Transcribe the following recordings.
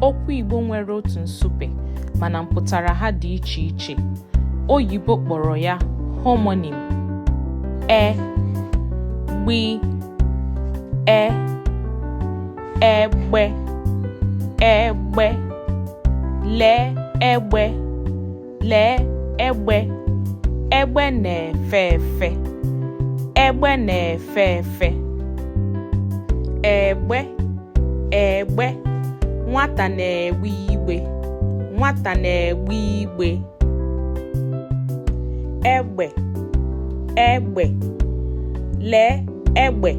Okwu Igbo nwere otu nsupe mana mpụtara ha dị iche iche. Oyibo kpọrọ ya homonim. E gbi e egbe egbe lee egbe Lee egbe, egbe na-efe efe, egbe na-efe efe. Egbe, egbe, nwata na-egbe igbe, nwata na-egbe igbe. Egbe, egbe, lee egbe,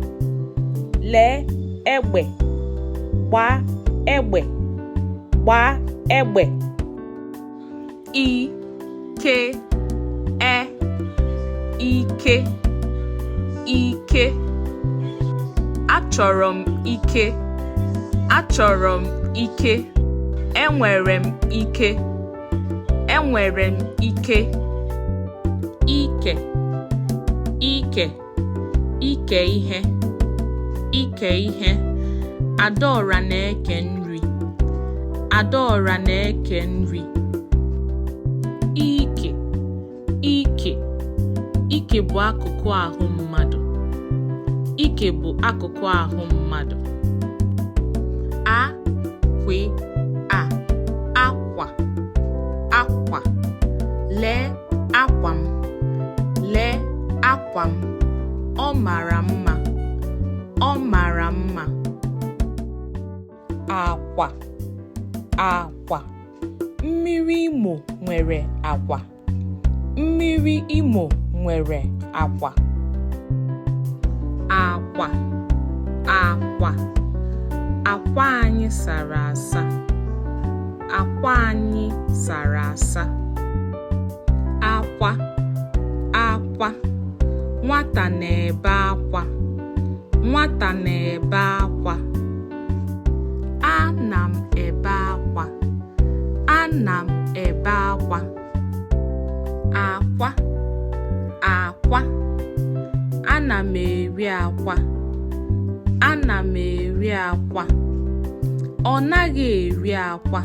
lee egbe, gbaa egbe, gbaa egbe. i ke e ike ike achọrọ m ike achọrọ m ike enwere m ike enwere m ike ike ike ike ihe ike ihe adaora na-eke nri adaora na-eke nri ike ike ike bụ akụkụ ahụ mmadụ ike bụ akụkụ ahụ mmadụ a kwe a akwa akwa lee akwa m akwa m ọ mara mma ọ mara mma akwa akwa mmiri imo nwere akwa mmiri imo nwere akwa akwa akwa akwa anyị sara asa akwa anyị sara asa akwa akwa nwata na-ebe akwa nwata na-ebe akwa ana m ebe akwa ana m ebe akwa akwa akwa ana m eri akwa ana m eri akwa ọ naghị eri akwa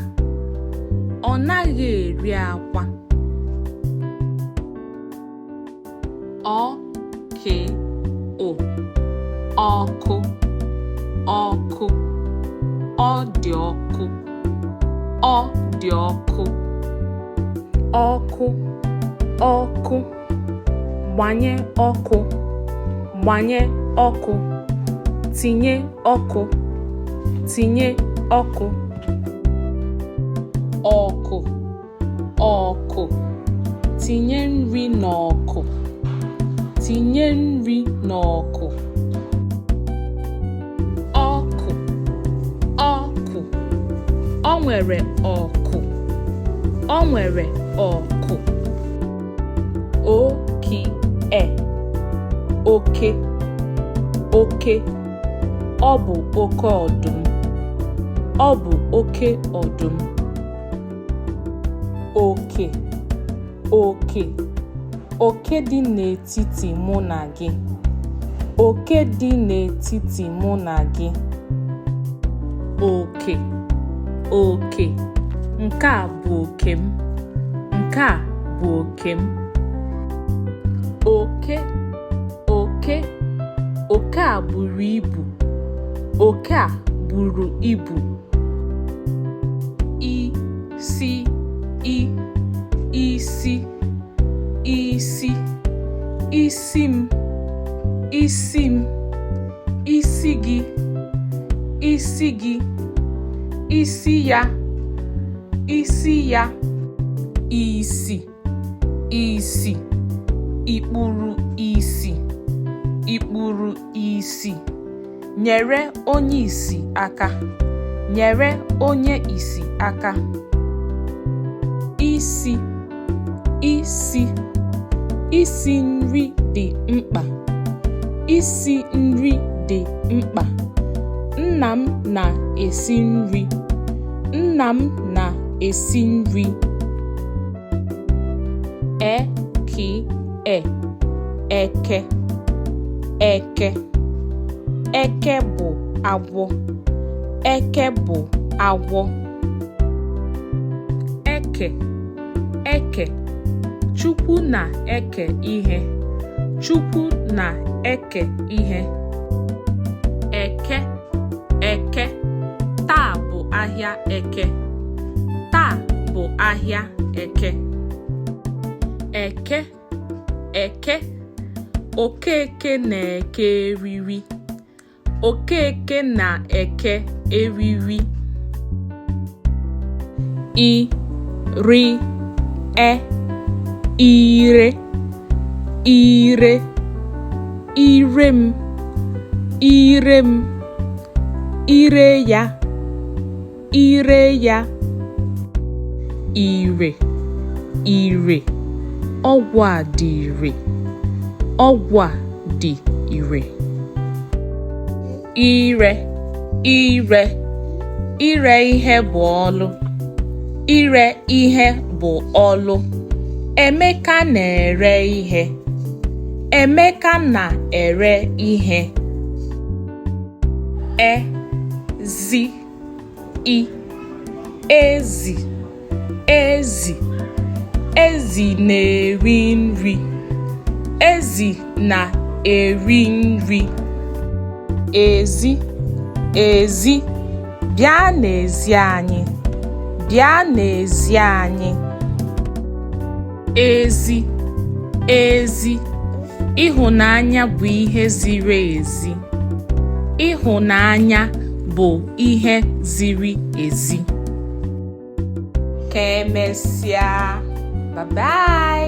ọ naghị eri akwa ọ ke ụ ọkụ ọkụ ọ dị ọkụ ọ dị ọkụ ọkụ ọkụ gbanye ọkụ gbanye ọkụ tinye ọkụ tinye ọkụ ọkụ ọkụ tinye nri n'ọkụ tinye nri n'ọkụ ọkụ ọkụ ọ nwere ọkụ ọ nwere ọkụ o ki e oke oke ọ bụ oke ọdụm ọ bụ oke ọdụm oke oke oke dị n'etiti mụ na gị oke dị n'etiti mụ na gị oke oke nke a bụ oke m nke a bụ oke m oke oke oke a buru ibu oke a buru ibu i si i isi isi isi m isi m isi gị isi gị isi ya isi ya isi isi i kpuru isi i kpuru isi nyere onye isi aka nyere onye isi aka isi isi isi nri dị mkpa isi nri dị mkpa nna m na-esi nri nna m na-esi nri e ki e eke eke eke bụ agwọ eke bụ agwọ eke eke chukwu na-eke ihe chukwu na-eke ihe eke eke taa bụ ahịa eke taa bụ ahịa eke eke eke okeke na-eke eriri okeke na-eke eriri i ri e ire ire ire m ire m ire ya ire ya ire ire ọgwụ a dị ire ọgwụ a dị ire ire ire ire ihe bụ ọlụ ire ihe bụ ọlụ Emeka na-ere ihe Emeka na-ere ihe ezi i ezi ezi ezi na-eri nri ezi na-eri nri ezi ezi bịa n'ezi anyị bịa n'ezi anyị ezi ezi ịhụnanya bụ ihe ziri ezi ịhụnanya bụ ihe ziri ezi ka emesịa bye bye